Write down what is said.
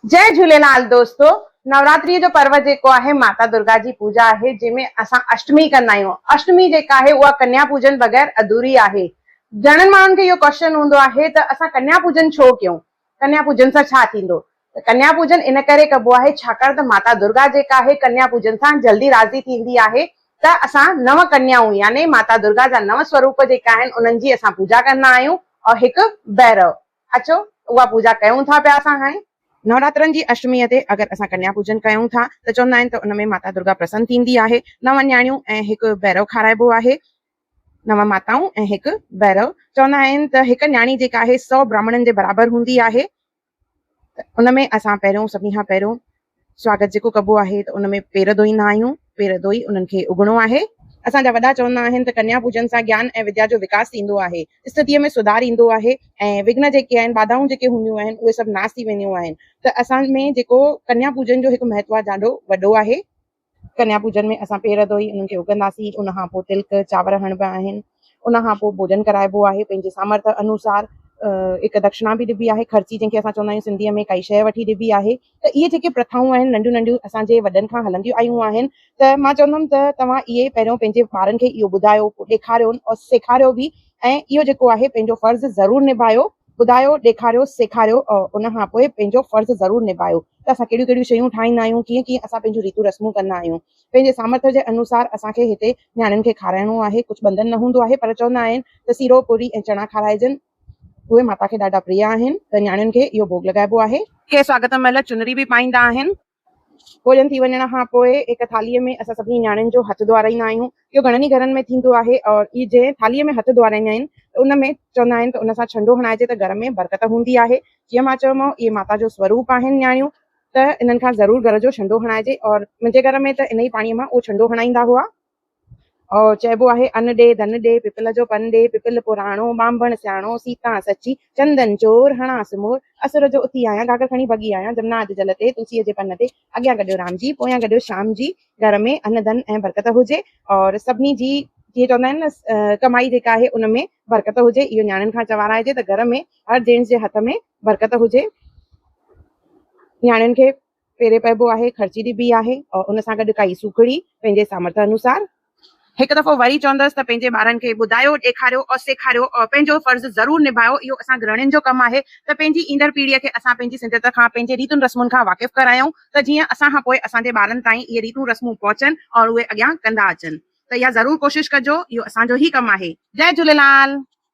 جئي جهوليلال دوستو نوراتري جو پرو جيڪو آهي ماتا درگا جي پوجا آهي جنهن ۾ اسان اشٽمي ڪندا آهيون اشٽمي جيڪا آهي اها ڪنيا پوجن بغير اڌوري آهي گهڻن ماڻهن کي اهو ڪوشچن هوندو آهي ته اسان ڪنيا پوجن ڇو ڪيون ڪنيا پوجن سان ڇا ٿيندو ته ڪنيا پوجن ان ڪري ڪبو آهي ڇاڪاڻ ته ماتا درگا جيڪا آهي ڪنيا پوجن سان جلدي راضي ٿيندي آهي ته اسان نو ڪنيائون يعني ماتا درگا جا نو سوروپ جيڪا آهن انهن جي اسان پوجا ڪندا آهيون ۽ هڪ بهرو اچو اها پوڄا ڪيون ٿا پيا اسان هاڻي. نوراترن جي اشٽميء تي اگر اسان ڪنيا پوڄن ڪيون ٿا ته چوندا آهن ته ان ۾ ماتا درگا پرسن ٿيندي آهي. نو نياڻيون ۽ هڪ ڀيرو کارائبو آهي. نو ماتائون ۽ هڪ ڀيرو. چوندا آهن ته هڪ نياڻي جيڪا آهي سئو براهمڻن جي برابر هوندي آهي. ته ان ۾ اسان پهريون سڀني کان پهريون سواگت جيڪو ڪبو آهي ته ان ۾ پير ڌوئيندا آهيون، پير ڌوئي انهن کي اگهڻو آهي. اسان جا وڏا چوندا آهن ته ڪنيا پوڄن سان گيان ۽ وديا جو وڪاس ٿيندو آهي، استڌيء ۾ سڌار ايندو آهي ۽ وگهن جيڪي آهن، ٻاڌائون جيڪي هونديون آهن، اهي سڀ ناس ٿي وينديون آهن ته اسان ۾ جيڪو ڪنيا پوڄن جو هڪ مهتوا ڏاڍو وڏو آهي. ڪنيا پوڄن ۾ اسان پير ڌوئي انهن کي اگهنداسين، ان کان پوء تلڪ، چانور هڻبا آهن، ان کان پوء ڀوڄن ڪرائبو آهي، پنهنجي سامرٿ انوسار هڪ دکشنا به ڏبي آهي، خرچي جنهن کي اسان چوندا آهيون سنڌيء ۾ ڪائي شيء وٺي ڏبي آهي، ته اهي جيڪي پرٿائون آهن ننڍيون ننڍيون اسان جي وڏن کان هلنديون آيون آهن ته مان چوندم ته توهان اهي پهريون پنهنجي ٻارن کي اهو ٻڌايو، پوء ڏيکاريون ۽ سيکاريو به ۽ اهو جيڪو آهي پنهنجو فرض ضرور نڀايو ٻڌايو ڏيکاريو سيکاريو ان کان پوء پنهنجو فرض ضرور نڀايو ته اسان ڪهڙيون ڪهڙيون شيون ٺاهيندا آهيون ڪيئن ڪيئن اسان پنهنجون ريتون رسمون ڪندا آهيون پنهنجي سامرٿ جي انوسار اسان کي هتي نياڻين کي کارائڻو آهي ڪجهه ٻنڌن نه هوندو آهي پر چوندا آهن ته سيرو پوري ۽ چڻا کارائجن اهي ماتا کي ڏاڍا پريا آهن ته نياڻين کي اهو ڀوڳ لڳائبو آهي. ڪي سواگت مهل چنري به پائيندا آهن ڀوڄن ٿي وڃڻ کان پوء هڪ ٿالهيء ۾ اسان سڀني نياڻين جو هٿ ڌوئارائيندا آهيون. اهو گهڻن ئي گهرن ۾ ٿيندو آهي ۽ جنهن ٿالهيء ۾ هٿ ڌوئارائيندا آهن ته ان ۾ چوندا آهن ته ان سان ڇنڊو هڻائجي ته گهر ۾ برڪت هوندي آهي. جيئن مان چيومانو اهي ماتا جو سوروپ آهن نياڻيون ته انهن کان ضرور گهر جو ڇنڊو هڻائجي ۽ منهنجي گهر ۾ ته انهيء پاڻيء مان اهو ڇنڊو هڻائيندا هئا. چئبو آهي ان ڏي ڌن ڏي، پپل جو پن ڏي، پپل پراڻو، ٻانڀڻ سياڻو، سيتان سچي، چندن چور، هڻانس مور، اسور جو اٿي آيان، گاگر کڻي ڀڳي آيان، جمنا اڄ جل تي، تلسيء جي پن تي، اڳيان گڏيو رام جي، پويان گڏيو شيام جي، گهر ۾ ان ڌن ۽ برڪت هجي، سڀني جي جيئن چوندا آهن نه ڪمائي جيڪا آهي ان ۾ برڪت هجي، اهو نياڻين کان چوارائجي ته گهر ۾ هر جينٽس جي هٿ ۾ برڪت هجي، نياڻين کي. پيري پئبو آهي، خرچي ڏبي آهي ۽ ان سان گڏ ڪائي سوکڙي، پنهنجي سامرٿ انوسار. هڪ دفعو وري چوندس ته پنهنجي ٻارن کي ٻڌايو، ڏيکاريو ۽ سيکاريو ۽ پنهنجو فرض ضرور نڀايو، اهو اسان گرهڻين جو ڪم آهي ته پنهنجي ايندڙ پيڙهيء کي اسان پنهنجي سنڌيت کان، پنهنجي ريتن رسمن کان واقف ڪرايون ته جيئن اسان کان پوء اسان جي ٻارن تائين اهي ريتون رسمون پهچن ۽ اهي اڳيان ڪندا اچن ته اها ضرور ڪوشش ڪجو، اهو اسان جو ئي ڪم آهي. جئه جهوليلال.